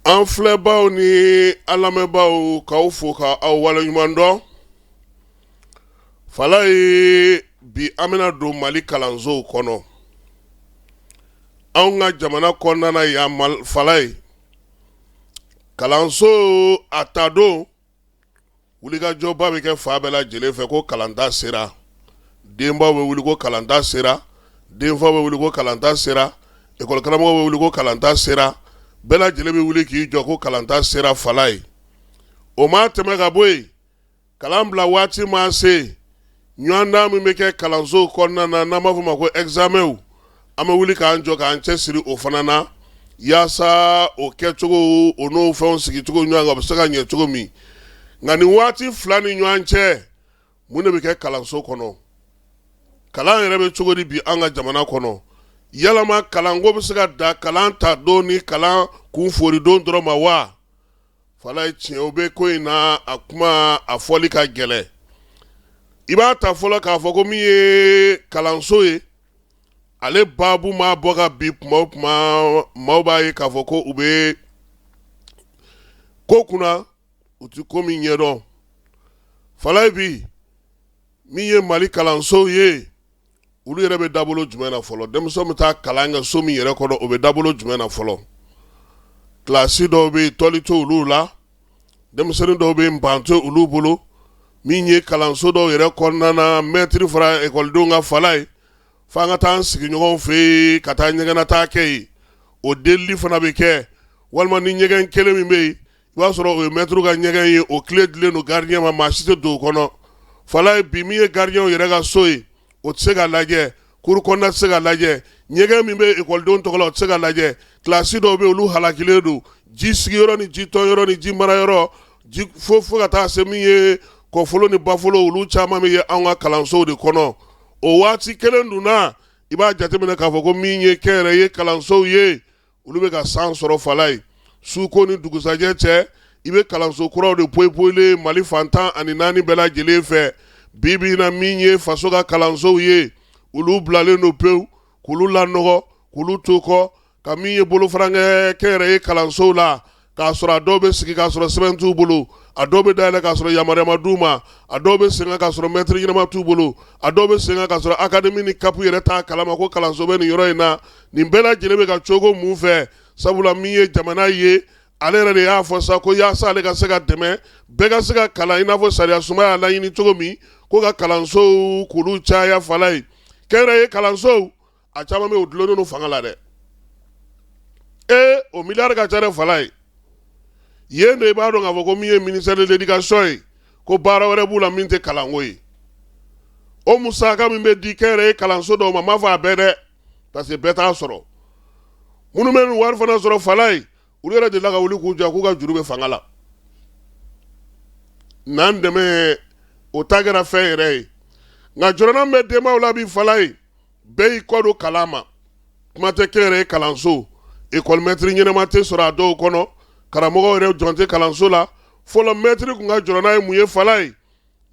an filɛbaw ni an lamɛnbaaw k'aw fo k'aw waleɲuman dɔn fala ye bi an bɛna don mali kalansow kɔnɔ anw ka jamana kɔnɔna yan fala ye kalanso a ta don wulikajɔba bɛ kɛ fan bɛɛ lajɛlen fɛ ko kalanta sera denbaw bɛ wuli ko kalanta sera denfaw bɛ wuli ko kalanta sera ekɔlikaramɔgɔw bɛ wuli ko kalanta sera bɛɛ lajɛlen bɛ wuli k'i jɔ ko kalanta sera fala ye o ma tɛmɛ ka bɔ yen kalan bila waati ma se Ɲɔgɔndan min bɛ kɛ kalanso kɔnɔna na n'an b'a fɔ ma ko egizamɛnw an bɛ wuli k'an jɔ k'an cɛ siri o fana na yaasa o kɛcogo o n'o fɛnw sigicogo ɲɔgɔn kan bɛ se ka ɲɛ cogo min nka nin waati fila ni ɲɔgɔn cɛ mun de bɛ kɛ kalanso kɔnɔ kalan yɛrɛ bɛ cogo di bi an ka jamana kɔnɔ yalama kalanko bɛ se ka dan kalan ta don ni kalan kun foori don dɔrɔn ma wa fala ye tiɲɛ o bɛ ko in na a kuma a fɔli ka gɛlɛn i b'a ta fɔlɔ k'a fɔ ko min ye kalanso ye ale baabu maa bɔ ka bi kuma o kuma maaw b'a ye k'a fɔ ko u bɛ ko kunna u tɛ ko min ɲɛdɔn fala ye bi min ye mali kalansow ye olu yɛrɛ bɛ dabolo jumɛn na fɔlɔ denmisɛn bɛ taa kalan kɛ so min yɛrɛ kɔnɔ o bɛ dabolo jumɛn na fɔlɔ kilasi dɔw bɛ tɔli t'olu la denmisɛnnin dɔw bɛ ban t'olu bolo min ye kalanso dɔw yɛrɛ kɔnɔna na mɛtiri fara ekɔlidenw kan fala ye fo an ka taa an sigiɲɔgɔn fɛ yen ka taa ɲɛgɛnnataa kɛ yen o delili fana bɛ kɛ walima ni ɲɛgɛn kelen min bɛ yen i b'a sɔrɔ o ye mɛtiriw ka ɲɛgɛn ye o kile dilen don garidiyɛn ma maa si tɛ don o kɔnɔ fala ye bi min ye garidiyɛnw yɛrɛ ka so ye o tɛ se ka lajɛ kuru kɔnɔna tɛ se ka lajɛ ɲɛgɛn min bɛ ekɔlidenw tɔgɔ la o tɛ se ka lajɛ kilasi dɔw bɛ olu halakilen don ji sigiyɔrɔ ni ji tɔnyɔrɔ ni ji mara yɔrɔ fo ka taa se min ye kɔfolo ni bafolo olu caman bɛ ye anw ka kalansow de kɔnɔ o waati kelen dun na i b'a jateminɛ k'a fɔ ko min ye kɛnyɛrɛye kalansow ye olu bɛ ka san sɔrɔ fala ye suko ni dugusajɛ cɛ i bɛ kalanso kuraw de poyipoyilen ye mali fan tan ani naani bɛɛ lajɛlen fɛ bi bi in na min ye faso ka kalansow ye olu bilalen don pewu k'olu lanɔgɔ k'olu to kɔ ka min ye bolofara kɛ kɛnyɛrɛye kalansow la k'a sɔrɔ a dɔw bɛ sigi k'a sɔrɔ sɛbɛn t'u bolo a dɔw bɛ dayɛlɛn k'a sɔrɔ yamaruya ma d'u ma a dɔw bɛ sen kan k'a sɔrɔ mɛtiri ɲɛnama t'u bolo a dɔw bɛ sen kan k'a sɔrɔ akademi ni kapu yɛrɛ t'a kalama ko kalanso bɛ nin yɔrɔ in na nin bɛɛ lajɛlen bɛ ka cogo mun fɛ sabula min ye jamana ye ale yɛrɛ de y'a fɔ sa ko yaasa ale ka se ka dɛmɛ bɛɛ ka se ka kalan i n'a fɔ sariyasunba y'a laɲini cogo min ko ka kalansow k'olu caya fala ye kɛnyɛrɛye kalansow a caman bɛ dulonnen fanga la dɛ ee o miliyari ka ca Falayi yen de i b'a dɔn k'a fɔ ko min ye ministère de l'éducation ye ko baara wɛrɛ b'u la min tɛ kalanko ye o musaka min bɛ di kɛnyɛrɛye kalanso dɔw ma m'a fɔ a bɛɛ dɛ parce que bɛɛ t'a sɔrɔ minnu bɛ nin wari fana sɔrɔ Falayi u yɛrɛ delila ka wuli k'u jɔ k'u ka juru bɛ fanga la n'an dɛmɛ o ta kɛra fɛn yɛrɛ ye nka jɔrɔna bɛ denbaw la bi Falayi bɛɛ y'i kɔ don kalan ma kuma tɛ kɛnyɛrɛye kalanso ekɔli mɛtiri ɲɛnama tɛ sɔrɔ a dɔw kɔnɔ karamɔgɔw yɛrɛ jɔn tɛ kalanso la fɔlɔ mɛtiri kun ka jɔrɔna ye mun ye Falayi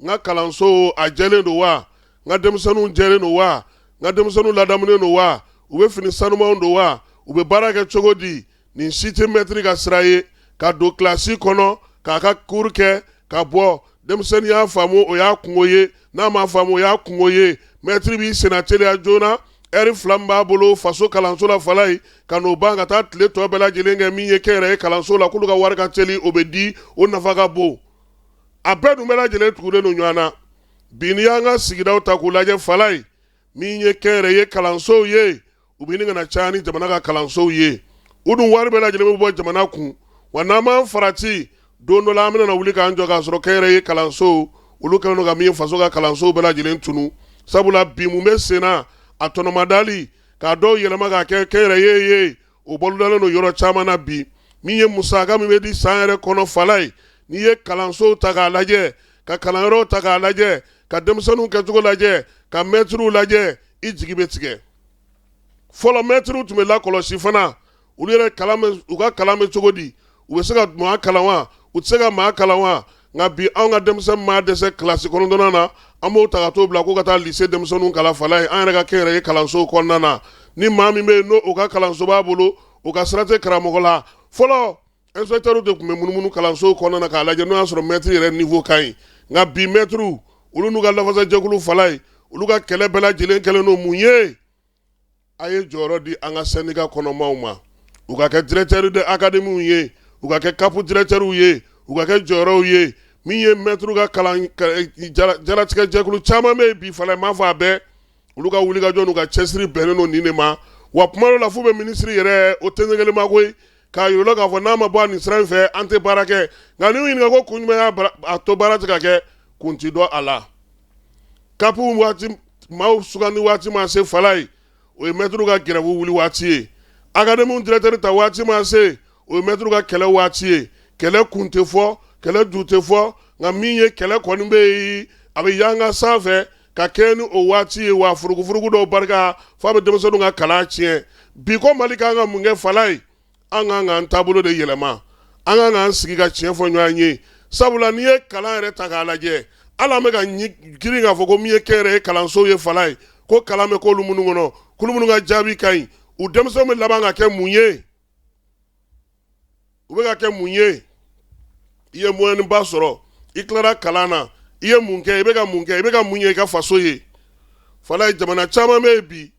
n ka kalanso a jɛlen don wa n ka denmisɛnninw jɛlen don wa n ka denmisɛnninw ladamunen don wa u bɛ fini sanumanw don wa u bɛ baara kɛ cogo di nin si tɛ mɛtiri ka sira ye ka don kilasi kɔnɔ k'a ka kuru kɛ ka bɔ denmisɛnnin y'a faamu o y'a kungo ye n'a ma faamu o y'a kungo ye mɛtiri b'i senna teliya joona ɛri fila min b'a bolo faso kalanso la Falayi ka n'o ban ka taa tile tɔ bɛɛ lajɛlen kɛ min ye kɛnyɛrɛye kalanso la k'olu ka wari ka teli o bɛ di o nafa ka bon a bɛɛ dun bɛɛ lajɛlen tugulen don ɲɔgɔn na bi n'i y'an ka sigidaw ta k'u lajɛ Falayi min ye kɛnyɛrɛye kalansow ye u bɛ ɲini ka na caya ni jamana ka kalansow ye u dun wari bɛɛ lajɛlen bɛ bɔ jamana kun wa n'an m'an farati don dɔ la an bɛna wuli k'an jɔ k'a sɔrɔ kɛnyɛrɛye kalansow olu kɛlen don ka min ye faso ka kalansow bɛɛ lajɛlen tunu sabula bi mun bɛ senna a tɔnɔmadali k'a dɔw yɛlɛma k'a kɛ kɛnyɛrɛye ye o bolodalen don yɔrɔ caman na bi min ye musaka min bɛ di san yɛrɛ kɔnɔ Falayi n'i ye kalansow ta k'a lajɛ ka kalanyɔrɔw ta k'a lajɛ ka denmisɛnninw kɛcogo lajɛ ka mɛtiriw lajɛ i jigi bɛ tigɛ fɔlɔ mɛtiriw tun bɛ lakɔlɔsi fana olu yɛrɛ kalan bɛ- u ka kalan bɛ cogo di u bɛ se ka maa kalan wa u tɛ se ka maa kalan wa nka bi anw ka denmisɛn maa dɛsɛ kilasi kɔnɔntɔnnan na an b'o ta ka t'o bila ko ka taa lise denmisɛnninw kalan Falayi an yɛrɛ ka kɛnyɛrɛye kalansow kɔnɔna na ni maa min bɛ yen n'o o ka kalanso b'a bolo o ka sira tɛ karamɔgɔ la fɔlɔ Inspecteurs de kun bɛ munumunu kalansow kɔnɔna na k'a lajɛ n'o y'a sɔrɔ maitre yɛrɛ niveau ka ɲi nka bi maitres olu n'u ka lafasajɛkulu Falayi olu ka kɛlɛ bɛɛ lajɛlen kɛlen don mun ye? a ye jɔyɔrɔ di an ka syndicat kɔnɔmaaw ma u ka kɛ directeurs de académies ye u ka kɛ CAP directeurs ye u ka kɛ jɔyɔrɔw ye min ye maitres ka kalan jaratigɛ jɛkulu caman bɛ yen bi Falayi m'a fɔ a bɛɛ olu ka wulikajɔ n'u ka cɛsiri bɛnnen don nin de ma wa tuma dɔ la f'u bɛ minisiri yɛrɛ o tɛ kelen ma koyi k'a yir'u la k'a fɔ n'a ma bɔ nin sira in fɛ an tɛ baara kɛ nka n'u ɲininka ko kun jumɛn y'a to baara tɛ ka kɛ kun tɛ dɔn a la kap waati maaw sugandi waati maa se Falayi o ye mɛtiriw ka gɛrɛwu wuli waati ye akademi dirɛkitɛri ta waati maa se o ye mɛtiriw ka kɛlɛ waati ye kɛlɛ kun tɛ fɔ kɛlɛ ju tɛ fɔ nka min ye kɛlɛ kɔni bɛ yen a bɛ yanga san fɛ ka kɛɲɛ ni o waati ye wa furugufurugu dɔw barika f'a bɛ denmisɛnninw ka kalan tiɲɛ bi ko mali kan ka mun kɛ falayi an kan k'an taabolo de yɛlɛma an kan k'an sigi ka tiɲɛ fɔ ɲɔgɔn ye sabula n'i ye kalan yɛrɛ ta k'a lajɛ hali an bɛ ka girin k'a fɔ ko min ye kɛnyɛrɛye kalanso ye falayi ko kalan bɛ k'olu minnu kɔnɔ k'olu minnu ka jaabi ka ɲi u denmisɛnw bɛ laban ka kɛ mun ye u bɛ ka kɛ mun ye i ye moyenne ba sɔrɔ i tilara kalan na i ye mun kɛ i bɛ ka mun kɛ i bɛ ka mun ɲɛ i ka faso ye falayi jamana caman bɛ yen bi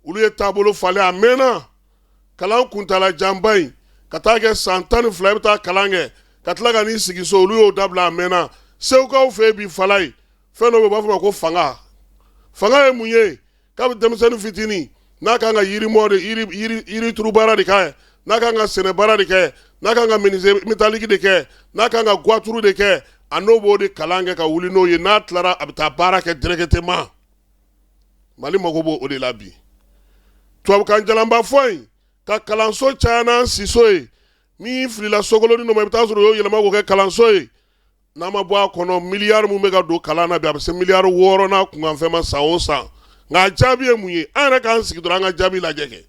olu ye taabolo falen a mɛnna kalan kuntaala janba in ka taa kɛ san tan ni fila i bɛ taa kalan kɛ ka tila ka n'i sigi so olu y'o dabila a mɛnna segukaw fɛ yen bi falayi fɛn dɔ bɛ yen u b'a fɔ a ma ko fanga fanga ye mun ye kabi denmisɛnnin fitinin n'a ka kan ka yirimɔ de yirituru baara de kɛ n'a ka kan ka sɛnɛ baara de kɛ n'a ka kan ka menuiserie métallique de kɛ n'a ka kan ka voiture de kɛ a n'o b'o de kalan kɛ ka wuli n'o ye n'a tilara a bɛ taa baara kɛ directement mali mago b'o o de la bi tubabukan jalanba fɔ in ka kalanso caya n'an siso ye min filila sokolonnin dɔ ma i bɛ taa sɔrɔ u y'o yɛlɛma k'o kɛ kalanso ye N'a ma bɔ a kɔnɔ miliyari min bɛ ka don kalan na bi a bɛ se miliyari wɔɔrɔ n'a kunkanfɛn ma san o san nka a jaabi ye mun ye an yɛrɛ k'an sigi dɔrɔn an ka jaabi lajɛ kɛ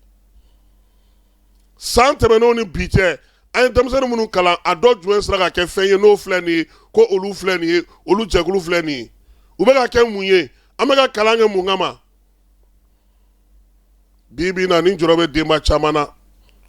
san tɛmɛnenw ni bi cɛ an ye denmisɛnnin minnu kalan a dɔ jumɛn sera ka kɛ fɛn ye n'o filɛ nin ye ko olu filɛ nin ye olu jɛkulu filɛ nin ye u bɛ ka kɛ mun ye an bɛ ka kalan kɛ mun kama bi bi na nin jɔrɔ bɛ denba caman na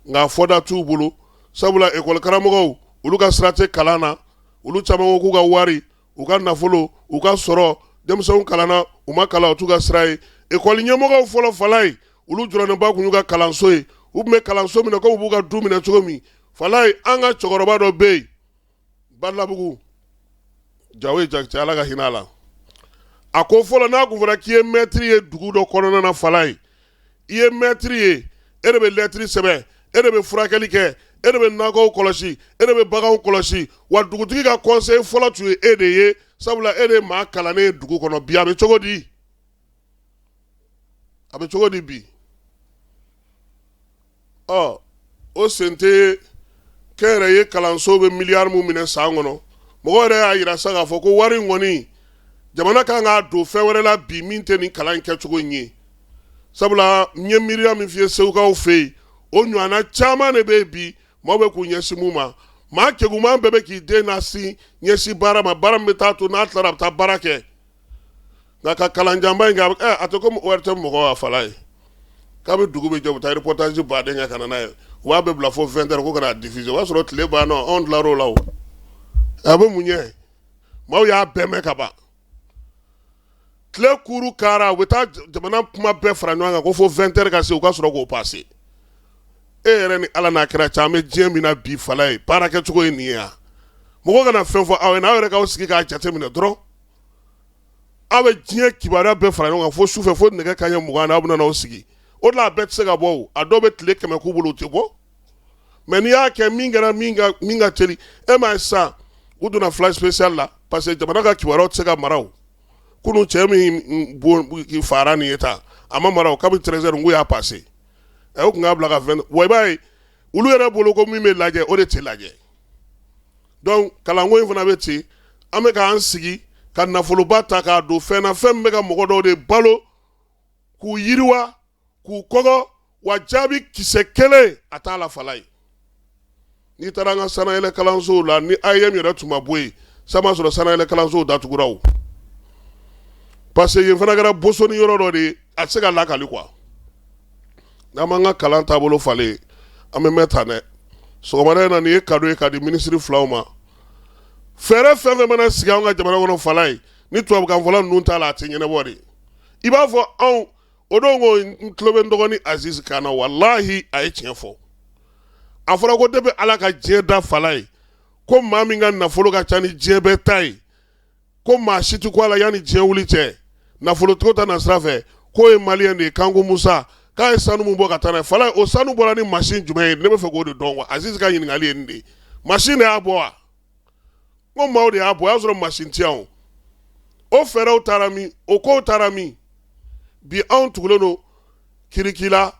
nka fɔda t'u bolo sabula ekɔli karamɔgɔw olu ka sira tɛ kalan na olu caman ko k'u ka wari u ka nafolo u ka sɔrɔ denmisɛnw kalanna u ma kalan o t'u ka sira ye ekɔli ɲɛmɔgɔw fɔlɔ falayi olu jɔrɔnenba tun y'u ka kalanso ye u tun bɛ kalanso minɛ komi u b'u ka du minɛ cogo min falayi an ka cɛkɔrɔba dɔ bɛ yen balabugu jawoyi jakite ala ka hinɛ a la a ko fɔlɔ n'a tun fɔra k'i ye mɛtiri ye dugu dɔ kɔnɔna na falayi i ye mɛtiri ye e de bɛ lɛtiri sɛbɛn e de bɛ furakɛli kɛ e de bɛ nakɔw kɔlɔsi e de bɛ baganw kɔlɔsi wa dugutigi ka kɔnsɛyi fɔlɔ tun ye e de ye sabula e de ye maa kalannen ye dugu kɔnɔ bi a bɛ cogo di a bɛ cogo di bi ɔ o sen tɛ kɛnyɛrɛye kalanso bɛ miliyari min minɛ san kɔnɔ mɔgɔ yɛrɛ y'a yira sa k'a fɔ ko wari in kɔni jamana kan k'a don fɛn wɛrɛ la bi min tɛ nin kalan in kɛcogo in ye sabula n ye miiriya min f'i ye segukaw fɛ yen o ɲɔgɔnna caman de bɛ yen bi maaw bɛ k'u ɲɛsin mun ma maa keguman bɛɛ bɛ k'i den na sin ɲɛsin baara ma baara min bɛ taa to n'a tilara a bɛ taa baara kɛ nka ka kalan janba in a tɛ komi ORTM mɔgɔw a fala ye k'a bɛ dugu bɛ jɛ u bɛ taa reportage ba de kɛ ka na n'a ye u b'a bɛɛ bila fo vingt heures ko ka n'a diffuser o y'a sɔrɔ tile banna anw tilala o la a bɛ mun ɲɛ maaw y'a bɛɛ mɛn ka ban tile kuuru kara u bɛ taa jamana kuma bɛɛ fara ɲɔgɔn kan ko fo vingt heures ka se u ka sɔrɔ k'o passer e yɛrɛ ni ala n'a kɛra caman an bɛ diɲɛ min na bi fala ye baara kɛ cogo ye nin ye wa mɔgɔ kana fɛn fɔ aw ye n'aw yɛrɛ k'aw sigi k'a jate minɛ dɔrɔn aw bɛ diɲɛ kibaruya bɛɛ fara ɲɔgɔn kan fo su fɛ fo nɛgɛ kanɲɛ mugan na aw bɛna aw sigi o la a bɛɛ tɛ se ka bɔ a dɔw bɛ tile kɛmɛ k'u bolo u tɛ bɔ mais n'i y'a kɛ min kɛra min ka teli e m'a ye sisan u donna flash spécial la parce que jamana ka kibaruya tɛ se ka mara o kunun cɛ min faara nin ye tan a ma mara kabini treize heures n ko u y'a passer ɛ u tun k'a bila ka fɛn wa i b'a ye olu yɛrɛ bolo ko min bɛ lajɛ o de tɛ lajɛ donc kalanko in fana bɛ ten an bɛ k'an sigi ka nafoloba ta k'a don fɛn na fɛn min bɛ ka mɔgɔ dɔw de balo k'u yiriwa k'u kɔgɔ wa jaabi kisɛ kelen a t'a la fala ye n'i taara an ka sanyɛlɛ kalansow la ni AEEM yɛrɛ tun ma bɔ yen sa n'a sɔrɔ sanyɛlɛ kalansow datugura parce que yen fana kɛra bosoni yɔrɔ dɔ de ye a tɛ se ka lakali quoi n'an m'an ka kalan taabolo falen an bɛ mɛn tan dɛ sɔgɔmada in na nin ye kado ye ka di minisiri filaw ma fɛɛrɛ fɛn fɛn mana sigi an ka jamana kɔnɔ fala ye ni tubabukanfɔla ninnu t'a la a tɛ ɲɛnabɔ de i b'a fɔ anw o don ko n tulo bɛ n dɔgɔnin Aziz kan na walahi a ye tiɲɛ fɔ a fɔra ko depuis Ala ka diɲɛ da fala ye ko maa min ka nafolo ka ca ni diɲɛ bɛɛ ta ye ko maa si tɛ kun a la yanni diɲɛ wuli cɛ nafolotigiw ta na sira fɛ k'o ye maliyɛn de ye Kanku Musa k'a ye sanu min bɔ ka taa n'a ye fala ye o sanu bɔra ni machine jumɛn ye ne bɛ fɛ k'o de dɔn quoi Aziz ka ɲininkali ye nin de ye machine de y'a bɔ wa? ko maaw de y'a bɔ o y'a sɔrɔ machine tɛ yan o fɛɛrɛw taara min o kow taara min bi anw tugulen don curricula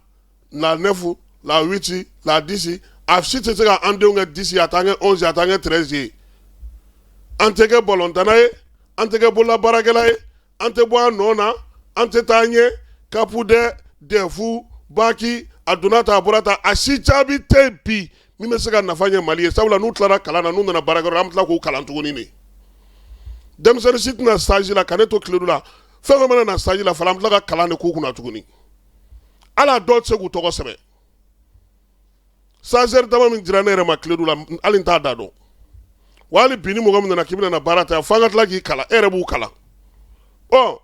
la neuf la huit la dix a si tɛ se ka an denw kɛ dix a t'an kɛ onze ye a t'an kɛ treize ye an tɛ kɛ balontanna ye an tɛ kɛ bololabaarakɛla ye an tɛ bɔ an nɔ na an tɛ taa ɲɛ kapu dɛ dɛfu baki a donna ta a bɔra ta a si jaabi tɛ bi min bɛ se ka nafa ɲɛ mali ye sabula n'u tilara kalan na n'u nana baarakɛyɔrɔ an bɛ tila k'u kalan tuguni de denmisɛnnin si tɛna stage la ka ne to Kledu la fɛn fɛn mana na stage la fana an bɛ tila ka kalan de k'u kunna tuguni hali a dɔw tɛ se k'u tɔgɔ sɛbɛn stagiaire dama min dira ne yɛrɛ ma tile la hali n t'a da dɔn wa hali bi ni mɔgɔ min nana k'i bɛna baara ta fo an ka tila k'i kalan e yɛrɛ b'u kalan ɔ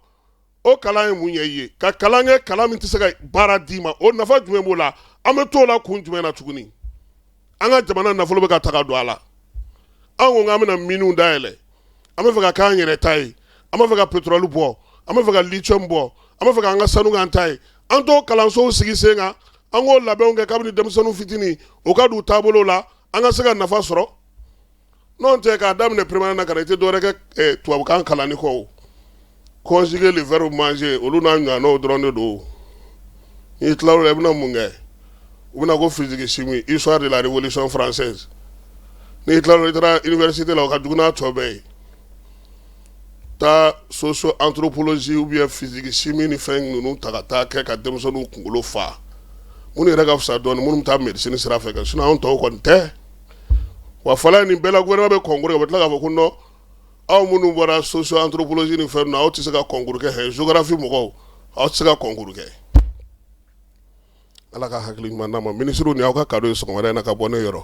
o kalan ye mun ye i y'i ka kalan kɛ kalan min tɛ se ka baara d'i ma o nafa jumɛn b'o la an bɛ t'o la kun jumɛn na tuguni an ka jamana nafolo bɛ ka ta ka don a la an ko an bɛna miniw dayɛlɛ an bɛ fɛ ka k'an yɛrɛ ta ye an b'a fɛ ka pétrole bɔ an bɛ fɛ ka lithium bɔ an bɛ fɛ k'an ka sanu k'an ta ye an t'o kalansow sigi sen kan an k'o labɛnw kɛ kabini denmisɛnninw fitinin u ka don o taabolo la an ka se ka nafa sɔrɔ n'o tɛ k'a daminɛ primaire na ka na i tɛ dɔwɛrɛ kɛ eh, tubabukan kalanni kɔ conjuguer le verbe manger olu n'a ɲɔgɔnnaw dɔrɔn de don n'i tilal'o la i bɛna mun kɛ u bɛna ko physique chimie histoire de la révolution française n'i tilal'o i taara université la o ka jugu n'a tɔ bɛɛ ye taa socio anthropologie ou bien physique chimie ni fɛn ninnu ta ka taa kɛ ka denmisɛnninw kunkolo fa minnu yɛrɛ ka fisa dɔɔni minnu bɛ taa médecine sira fɛ sinon anw tɔw kɔni tɛ wa fɔlɔ in nin bɛɛ la gouvernement bɛ concours kɛ u bɛ tila k'a fɔ ko non aw minnu bɔra socio anthropologie ni fɛn aw tɛ se ka concours kɛ géographie mɔgɔw aw tɛ se ka concours kɛ ala ka hakili ɲuman d'an ma ministre nin aw ka cadeau ye sɔgɔmada in na ka bɔ ne yɔrɔ